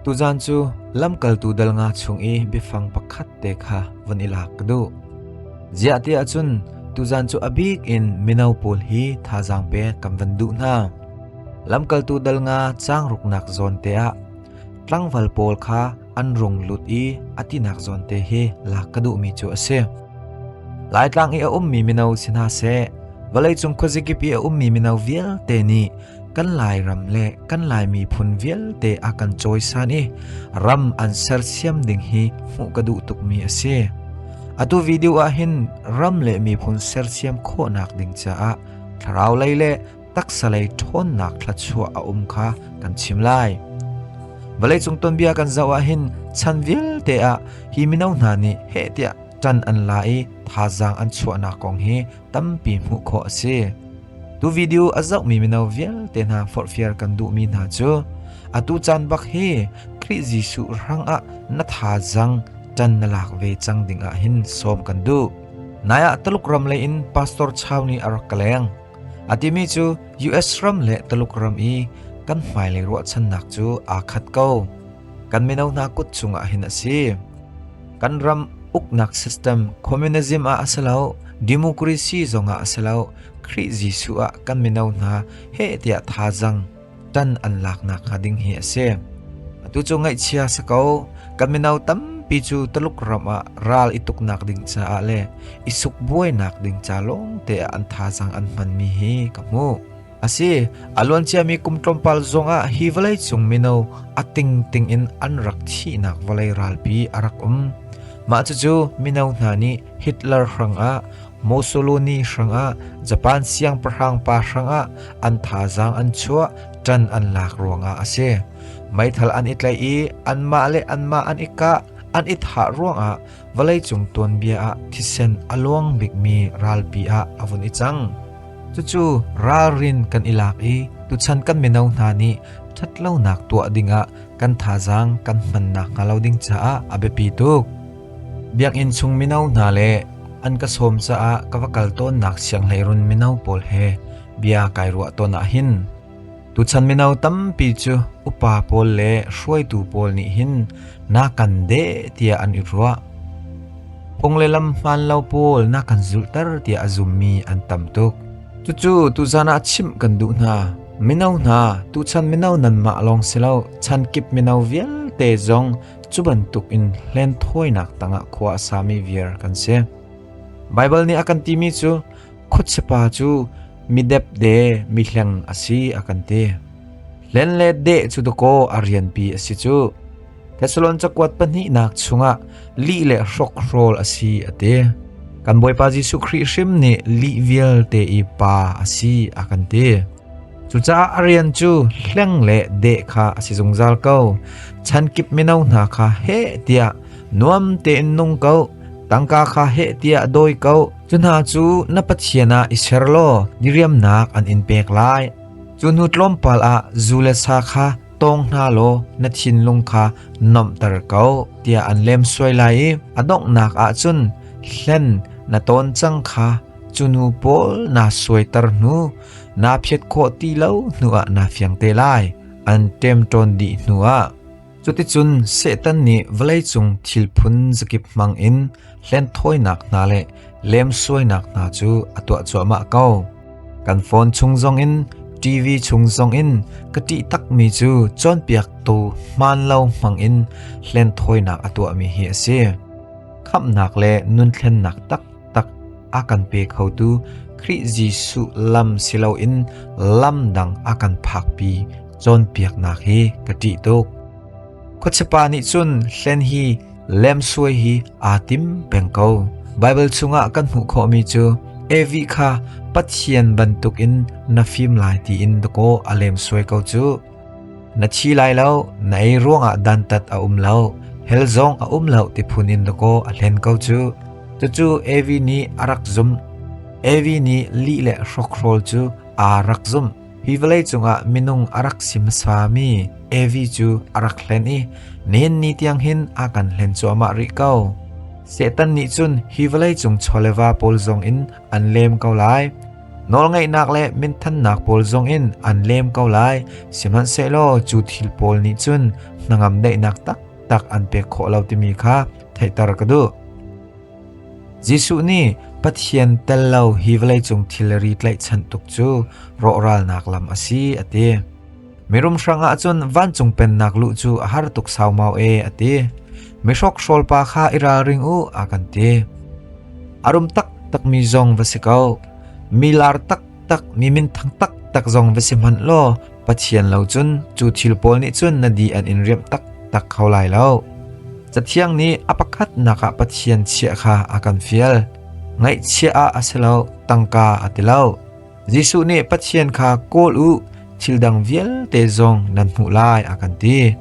Tuzan cu lamkaltu dal nga chung i biafang pakhat te kha von i lak ka duh. Ziah tiah cun tuzan cu abik in mino pawl hi thazaang pek kan van duh hna. Lamkaltu dal nga cang ruknak zawn te ah tlangval pawl kha an rung lut i a tinak zawn te hi lak ka duhmi cu a si. Laitlang i a ummi mino si hna seh, vawleicung khuazikipi a ummi mino vialte nih kan lairam le kan lai miphun vialte a kan cawisan i ram an sersiam ding hi hmuh ka duh tukmi a si. Atu video ah hin ram le miphun sersiam khawhnak ding caah thlarau lei le taksalei ṭhawnnak thluachuah a um kha kan chim lai. Vawleicung tonbia kan zoh ahhin chan vialte ah hi mino hna nih heh tiah ṭan an la i thazaang an chuahnak kong hi tampi hmuh khawh a si. Tu video a zohmi mino vialte hna forhfial kan duhmi hna cu atu caan bak hi Khrih Jesuh rang ah na thazaang ṭan na lak ve cang ding ah hin sawm kan duh. Nai ah Taluk ram lei in pastor chau nih a rak ka leng. A timi cu US ram le Tuluk ram i kan hmailei ruahchannak cu aa khat ko. Kan mino hna kut cungah hin a si. Kan ram uknak system communism ah a si lo, democracy zongah a si lo, Khrih Jesuh ah kan mino hna heh tiah thazaang tan an laknak hnga ding hi a si. Atu cu ngaihchia si ko, ka mino tampi cu Taluk ram ah ral i tuknak ding caah le i suk buainak ding ca lawng te ah an thazang an hmanmi hi ka hmu. Asi, aluanciami kum tlawmpal zongah hi vawlei cung mino ating ting in an rak thihnak vawlei ralpi a rak um. Mah cucu mino hna nih Hitler hrang ah Mussolini hrangah Japan siangpahrang pa hrangah an thazaang an chuah, ṭan an lak ruangah a si. Meithal an i tlaih i anmah le anmah an i kah, an i thah ruangah vawleicung tuanbia ah thisen a luang bikmi ralpi ah a vun i cang. Cucu ralrin kan i lak i tuchan kan mino hna nih ṭhatlonak tuah dingah kan thazaang kan hman nakhnga lo ding caah a biapi tuk. Biakinn chung mino hna le an ka sawm caah ka va kal tawnnak sianghleirun mino pawl he bia kai ruah tawn ahhin tuchan mino tampi cu upa pawl le hruaitu pawl nih hin na kan deh tiah an i ruah. Phung le lam hmaan lo pawl na kan zulhter tiah a zummi an tam tuk. Cucu tuzan ah chimh kan duh hna. Mino hna tuchan mino nanmah lawng si lo chan kip mino vialte zong Cu bantukin hlenthawinak tangah khua a sami viar kan si. Baibal nih a kan timi cu khuachipa cu midepde mihleng a si a kan ti. Hlen le deh cu dakaw a rianpi a si cu. Thessalon cakuat pahnihnak chungah lih le hrokhrawl a si a ti. Kan Bawipa Jesuh Khrih hrim nih lih vialte i pa a si a kan ti. Cucaah a rian cu hleng le deh kha a si zungzal ko. Chan kip mino hna kha heh tiah nuam tein nung ko. Tangka kha heh tiah dawi ko. Cu hna cu na Pathian ah i ser law diriamnak an in pek lai. Cu hnu tlawmpal ah zu le sa kha tawng hna law na thinlung kha nomter ko tiah an lem suai lai i a donghnak ah cun hlen na tawn cang kha cunu pawl naa suaiter hnu naa phiat khawh ti lo hnuah naa fiang te lai an ṭemṭawn dih hnuah cuticun Satan nih vawleicung thil phun zakip hmangin hlenthawinak hna le lemsuainak hna cu a tuah cuahmah ko. Kan phone chung zongin TV chung zongin ka ṭih takmi cu cawnpiaktu hmaan lo hmangin hlenthawinak a tuahmi hi a si. Khamhnak le nunthlennak tak tak a kan pe khotu Khrih Jesuh lam si loin lam dang a kan phakpi cawnpiaknak hi ka ṭih tuk. Khuachipa nih cun hlen hi lemsuai hi aa tim peng ko. Baibal chungah kan hmuh khawhmi cu Evi kha Pathian bantukin na fim lai tiin dakaw a lemsuai ko cu. Na thi lai lo, na ei ruangah dantat a um lo, hel zong a um lo ti phun in lakaw a hlen ko cu. Cucu Evi nih a rak zumh. Evi nih lih le hrokhrol cu aa rak zumh. Hi vawlei cungah minung a rak sim sami Evi cu a rak hlen i nen ni tiang hin a kan hlen cuahmah rih ko. Satan nih cun hi vawlei cung chawlewa pawl zong in an lem ko lai. Nawlngeihnak le minthannak pawl zongin an lem ko lai, sihmanhsehlaw cu thil pawl nih cun hnangam daihnak taktak an pek khawh lo timi kha theihter ka duh. Jesuh nih Pathian tel lo hi vawleicung thilri tlaihchan tuk cu rawhralnak lam a si a ti. Mirum hrang ah cun vancung pennak luh cu a har tuk saumau e, a ti. Mihrokhrol pa kha i ralring u, a kan ti. A rum taktakmi zong va si ko. Mi lar taktak, mi minthang taktak zong va si hmanh law, Pathian lo cun cu thil pawl nih cun na di an in riamh taktak kho lai lo. Cathiang nih a pakhatnak ah Pathian chiah kha a kan fial. Ngaihchiah ah a si lo, tangka a ti lo. Jesuh nih Pathian kha kawl u thil dang vialte zong nan hmuh lai a kan ti.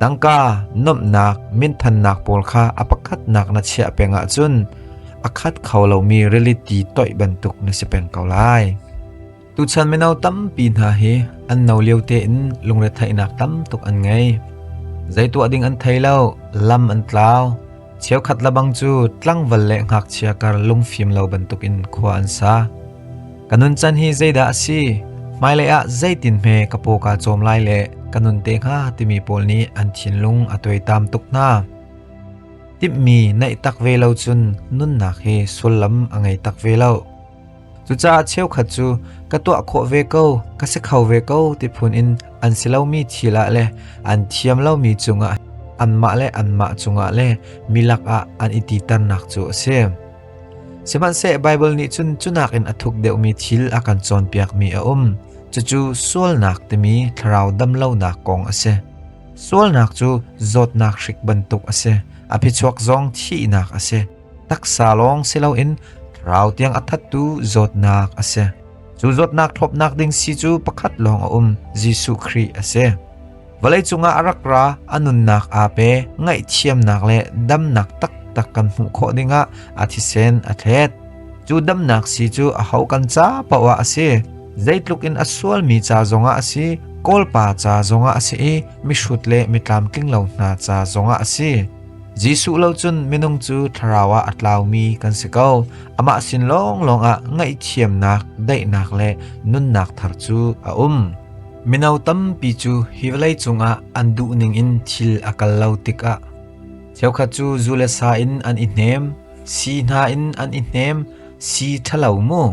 Tangka, nomhnak, minthannak pawl kha a pakhatnak na chiah peng ahcun a khat kho lomi rili ti toih bantuk na si peng ko lai. Tuchan mino tampi hna hi an no lio te in lungretheihnak tam tuk an ngei. Zei tuah ding an thei lo, lam an tlau, Cheukhat labang cu tlangval le ngakchia kar lungfim lo bantukin khua an sa. Ka nuncan hi zeidah a si? Hmailei ah zeitin hme ka paw kaa cawm lai le ka nun te hnga timi pawl nih an thinlung a tuaitam tuk hna. Timhmi neih tak ve lo cun nunnak hi sullam a ngei tak ve loh. Cucaah cheukhat cu ka tuah khawh ve ko, ka si kho ve ko ti phun in an si lomi thil ah le an thiam lomi cungah anmah le anmah cungah le mi lakah an i titernak cu a si. Sihmanhseh Baibal nih cun cunak in a thuk deuhmi thil a kan cawnpiakmi a um. Cucu sualnak timi thlarau damlonak kong a si. Sualnak cu zawtnak hrik bantuk a si. A phichuak zong thihnak a si. taksa lawng si loin thlarau tiang a thattu zawtnak a si. Cu zawtnak thlawpnak ding si cu pakhat lawng a um, Jesuh Khrih a si. Vawlei cungah a rak ra a nunnak aa pe ngaihthiamnak le damnak taktak kan hmuh khawh dingah a thisen a thlet. Cu damnak si cu a ho kan ca pawa a si. Zeitluk in a sualmi ca zongah a si, kawlpa ca zongah a si i mihrut le mitlamtling lo hna ca zongah a si. Jesuh lo cun minung cu thlarau ah a tlaumi kan si ko. Amah sin lawnglawng ah ngaihthiamnak, daihnak le nunnak thar cu a um. Mino tampi cu hi vawlei cungah an duh ningin thil a kal lo tikah cheukhat cu zu le sa in an i hnem, si hna in an i hnem, si ṭhalo mu.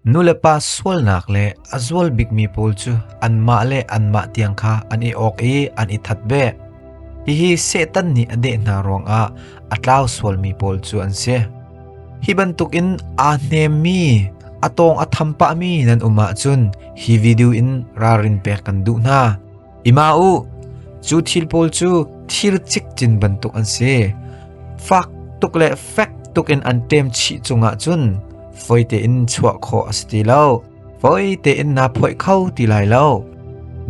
Nulepa sualnak le a zual bikmi pawl cu anmah le anmah tiang kha an i awk i an i that beh. Hihi Satan nih a deh hna ruangah a tlau sualmi pawl cu an si. Hi bantukin aa hnemmi, a tawng a tham pahmi nan um ahcun hi video in ralrin pek kan duh hna. Ima u, cu thil pawl cu thir cikcin bantuk an si. Fak tuk le fek tuk in an ṭem chih cungah cun foi tein chuah khawh a si ti lo. Foi tein naa phoih kho ti lai lo.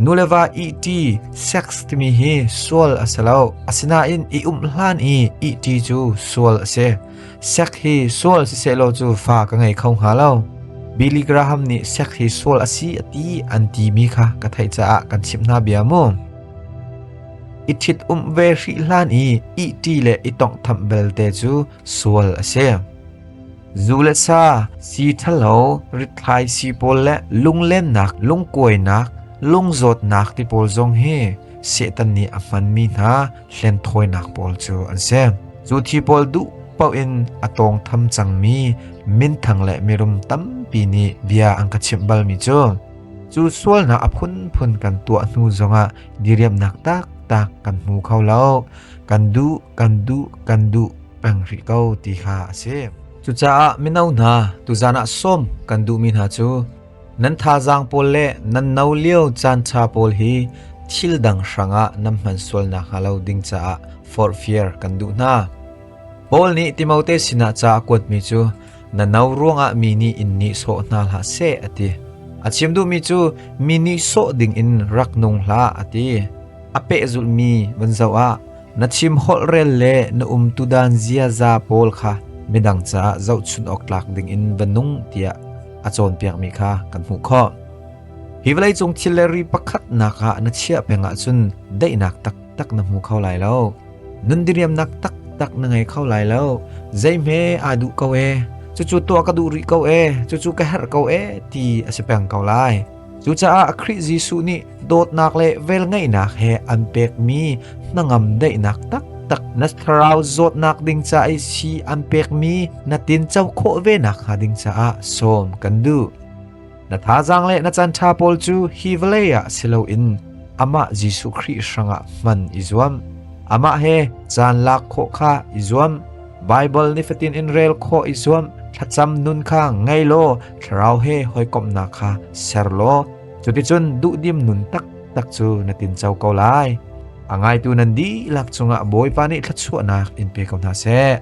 Nule va iti sex timi hi sual a si lo. Asinain i umhlan i iti cu sual a si. Sek hi sual sisehlaw cu fa ka ngei kho hnga lo. Billy Graham nih sek hi sual a si a ti an timi kha ka theih caah kan chimh hna bia mu. I ṭhit um ve hri hlan i ih ṭi le i tonghtham belte cu sual a si. Zu le sa, si ṭhalo, rithlai si pawl le lunglennak, lungkuainak, lungzawtnak ti pawl zong hi Satan nih a hmanmi hna hlenthawinak pawl cu an si. Cu thi pawl duh paoh in a tawngtham cangmi minthang le mirum tampi nih bia an ka chimh balmi cu cu sualnak a phunphun kan tuah hnu zongah diriamnak taktak kan hmu kho lo. Kan duh, kan duh, kan duh peng rih ko ti kha a si. Cucaah mino hna, tuzan ah sawm kan duhmi hna cu Nan thazaang pawl le nan no lio caanṭha pawl hi thil dang hrangah nan hman sual nakhnga lo ding caah forhfial kan duh hna. Paul nih Timote sinah ca a kuatmi cu na no ruangah mi nih in nihsawh hna hlah seh a ti. A chim duhmi cu mi nihsawh dingin rak nung hlah a ti. A pehzulhmi van zoh ah Na chim holh rel le na um tudan ziaza pawl kha midang caah zohchunh awk tlak dingin va nung tiah a cawnpiakmi kha kan hmuh khawh. Hi vawleicung thil le ri pakhatnak ah na chiah peng ahcun daihnak taktak na hmu kho lai lo. Nun diriamnak taktak na ngei kho lai lo. Zeihme aa duh ko e. Cucu tuah ka duh rih ko e. Cucu ka herh ko e ti a si peng ko lai. Cucaah Khrih Jesuh nih dawtnak le velngeihnak he an pekmi hnangam daihnak taktak na thlarau zawtnak ding ca i si an pekmi na tinco khawh ve nakhnga ding caah sawm kan duh. Na thazaang le na canṭha pawl cu hi vawlei ah si loin amah Jesuh Khrih hrangah hman i zuam. Amah he caan lak khawh kha i zuam. Baibal nifatin in rel khawh i zuam. Thlacam nun kha ngei law thlarau he hawikomhnak kha ser law cuticun duhdim nun taktak cu na tinco ko lai. A ngaitu nan dihlak cungah Bawipa nih thluachuahnak in pe ko hna seh.